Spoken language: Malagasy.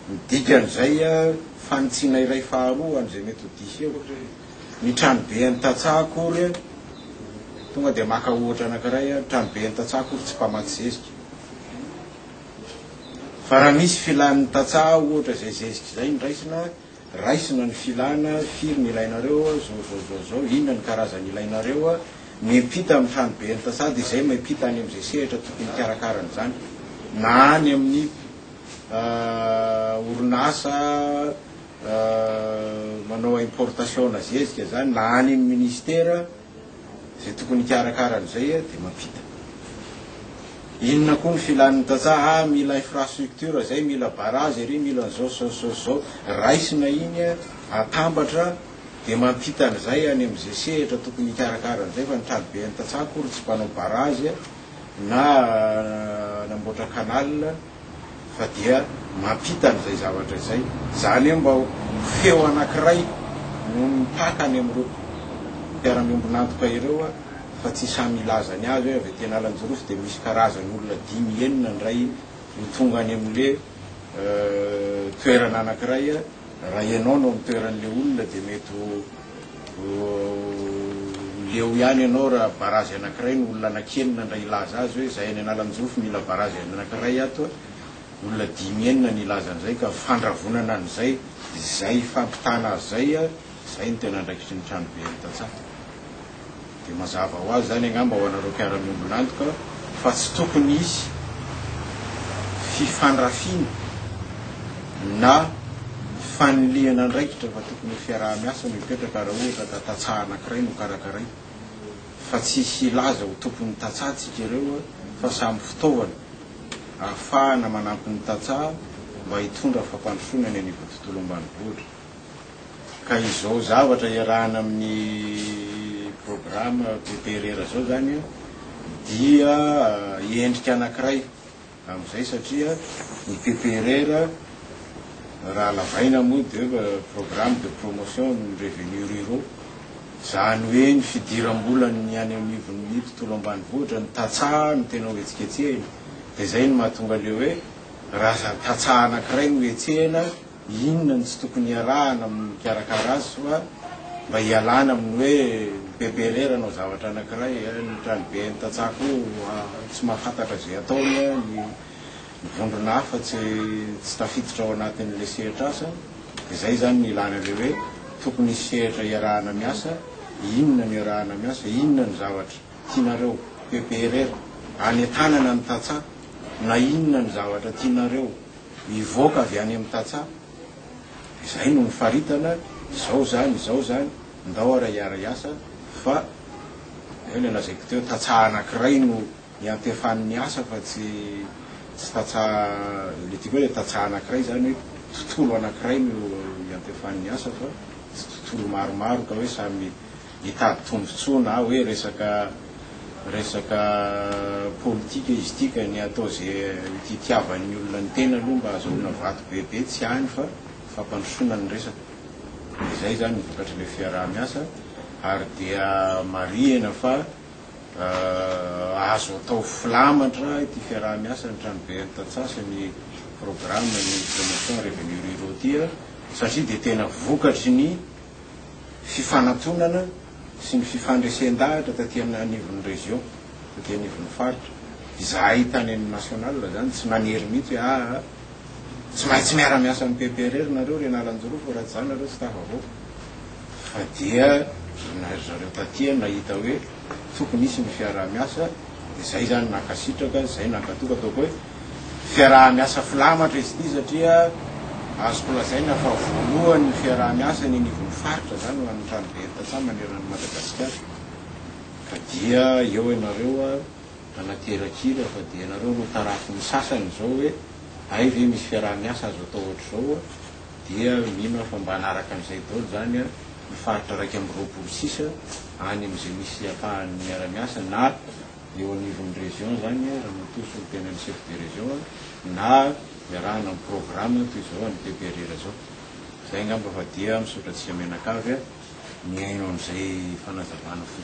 Ny dikan'izay, fanitsiana iray faharoa an'izay mety ho diso eo. Ny tranobe an'ny tantsaha akory, tonga dia maka ohatra anankiray, ny tranobe an'ny tantsaha akory tsy mpamatsy zezika. Fa raha misy filan'ny tantsaha ohatra izay zezika izay no raisina, Raisina ny filana, firy ny ilainareo, zao zao zao zao, inona ny karazany ilainareo, miampita amin'ny tranoben'ny tantsaha dia izay miampita any amin'izay sehatra tokony hikarakara an'izany na any amin'ny orinasa manao importation na zezika izany na any amin'ny ministera. Izay tokony hikarakara an'izay dia mampita. Inona koa ny filan'ny tantsaha, ah mila infrastructure izay, mila barrage ery, mila an'izao sy izao sy izao. Raisina iny, atambatra, dia mampita an'izay any amin'izay sehatra tokony hikarakara an'izay fa ny traboben'ny tantsaha akory tsy mpanao barrage na nanamboatra canal. fa dia mampita an'izay zavatra izay. Izany hoe mba ho feo anankiray no mipaka any amin'ireo mpiara-miombon'antoka ireo fa tsy samy hilaza ny azy hoe avy aty Analanjirofo dia misy karazany olona dimy enina indray no tonga any amin'ilay toerana anankiray Raha ianao no amin'ny toeran'ilay olona dia mety ho leo ihany ianao raha barazy anankiray no olona anankienina ndray hilaza azy hoe izahay any Analanjirofo mila barazy anankiray ato a! olona dimy enina no hilaza an'izay ka fandravonana an'izay izay hifampitana azy izay a! izay no tena andraikitry ny tranobe any Tantsaha. Dia mazava ho azy izany angamba ho anareo mpiara-miombon'antoka fa tsy tokony hisy fifandrafiana na fanilihana andraikitra fa tokony ho fiaraha-miasa no hipetraka raha ohatra ka tantsaha anankiray no karakaraina fa tsy hisy hilaza ho tompon'ny tantsaha tsika ireo fa samy fitaovana ahafahana manampy ny tantsaha mba hitondra fampandrosoana any anivon'ny tontolo ambanivohitra. Ka izao zavatra iarahana amin'ny programa PPRR izao izany dia endrika anankiray amin'izay satria ny PPRR raha lavaina moa dia programme de promotion des revenus ruraux, izany hoe ny fidiram-bolan'ny any anivon'ny tontolo ambanivohitra, ny tantsaha no tena hohetsiketsehina. Dia izay no mahatonga ilay hoe raha tantsaha anankiray no hetsehina, Inona no tsy tokony iarahana amin'ny mikarakara azy soa mba hialana amin'ny hoe bebe irery hanao zavatra anankiray, ny tranoben'ny tantsaha koa tsy mahafantatra izay ataony, ny vondrona hafa tsy tsy tafiditra ao anatin'ilay sehatr'asa, dia izay izany no ilana ilay hoe tokony hisy sehatra iarahana miasa, inona no iarahana miasa, inona no zavatra tianareo bebe irery hanentanana ny tantsaha, na inona no zavatra tianareo. Mivoaka avy any amin'ny tantsaha. Izay no nifaritana, izao izany, izao izany, ndao ary hiara-hiasa fa eo ilay lazaiko teo, tantsaha anankiray no iantefan'ny asa fa tsy tsy tantsaha, ilay tiako hoe ilay tantsaha anankiray izany hoe tontolo anankiray no iantefan'ny asa fa tsy tontolo maromaro ka hoe samy hitady tombontsoa na hoe resaka resaka politika izy ity ka ny atao ze hitiavan'ny olona ny tena aloha mba azahoana vato bebe tsy any fa fampandrosoana ny resaka dia izay izany ny vokatr'ilay fiaraha-miasa ary dia marihina fa azo atao filamatra ity fiaraha-miasa ny tranoben'ny tantsaha sy ny programme ny promotion revenu ruraux ity satria dia tena vokatry ny fifanatonana sy ny fifandresen-dahatra taty amin'ny anivon'ny région, taty anivon'ny faritra. Izahay tany amin'ny national izany tsy nanery mihitsy hoe aa tsy maintsy miara-miasa amin'ny PPRR nareo ry Analanjirofo raha tsy izany nareo tsy tafavoaka. Fa dia na ry zareo taty nahita hoe tokony hisy ny fiaraha-miasa dia izay izany nankasitraka, izay nankatoky ataoko hoe. Fiaraha-miasa filamatra izy ity satria azoko lazaina fa voalohany fiaraha-miasa eny anivon'ny faritra izany ho an'ny Tranobe ny tantsaha maneran'i Madagasikara ka dia eo ianareo nanaterak'ila fa dia ianareo no tarafin'ny sasany izao hoe hay ve misy fiaraha-miasa azo atao ohatr'izao dia mino aho fa mba hanaraka an'izay daholo izany ny faritra iraika amby roapolo sisa any amin'izay misy ampahany miara-miasa na eo anivon'ny région zany a, Ramatoa Solontenan'ny Chef de Région a, na iarahana amin'ny programme toy izao an'ny PPRR zao. Zay angamba fa dia misaotra antsika mianakavy a, mihaino an'izay fanazavana fohy.